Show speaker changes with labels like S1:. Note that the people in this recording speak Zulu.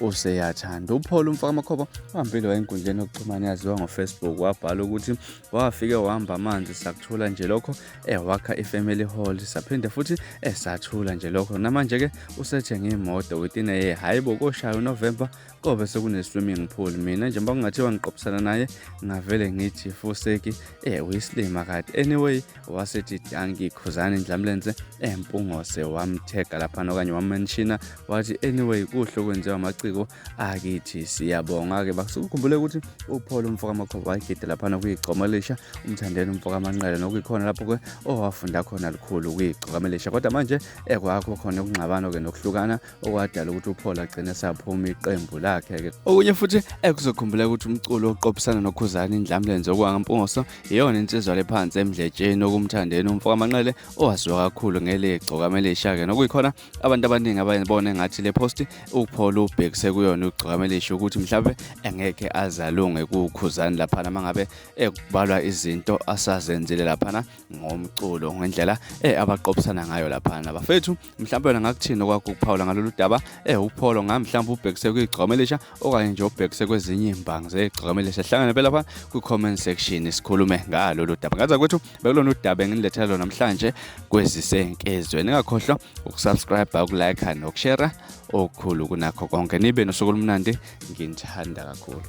S1: useyathanda upholo umfakamakhoba uhambile wayenkundleni yokuxhumana yaziwa ngofacebook wabhala ukuthi wafike wahamba amanzi sakuthula nje lokho ewakha eh, i-family hall saphinde futhi esathula eh, nje lokho namanje-ke usethenge imoto within a year hhayi bo koshaya unovemba kobe sekune-swimming pool mina njengoba kungathiwa ngiqophisana naye ngavele ngithi fuseki um eh, uyisilima kade anyway wasethi danki khuzani ndlamlenze empungose wamthega laphana okanye wamenshina wathi anyway kuhle okwenziwa amaciko akithi siyabonga-ke bakusukukhumbule ukuthi uphole umfokamakhoba wayigide laphana kuyigcoma elisha umthandeni umfokamanqele nokuyikhona lapho-ke owafunda khona lukhulu kuyigcokamelisha kodwa manje ekwakho khona ukungxabano-ke nokuhlukana okwadala ukuthi uPaul agcine saphuma iqembu lakhe ke okunye futhi ekuzokhumbula ukuthi umculo oqophisana nokhuzani indlamlenze okwangampungoso iyona insizwa lephansi emdletsheni okumthandeni umfoka manqele owaziwa kakhulu ngelegcoka melishake nokuyikhona abantu abaningi abayibona engathi le post uPaul ubhekise kuyona ugcoka melisho ukuthi mhlawumbe engeke azalunge kukhuzani laphana mangabe ekubalwa izinto asazenzile laphana ngomculo ngendlela eh abaqophisana ngayo lapha nabafethu mhlawumbe wena ngakuthini okwakho ukuphawula ngalolu daba eh upholo ngami mhlawumbe ubhekise kwigcome elisha okanye nje ubhekise kwezinye imbangi zegcome elisha hlangane phela pha kwi-comment section sikhulume ngalolu daba ngaza kwethu bekulona udaba engilethela lona namhlanje kwezisenkezweni ingakhohlwa ukusubscribe ukulike nokushare okukhulu kunakho konke nibe nosuku olumnandi nginithanda kakhulu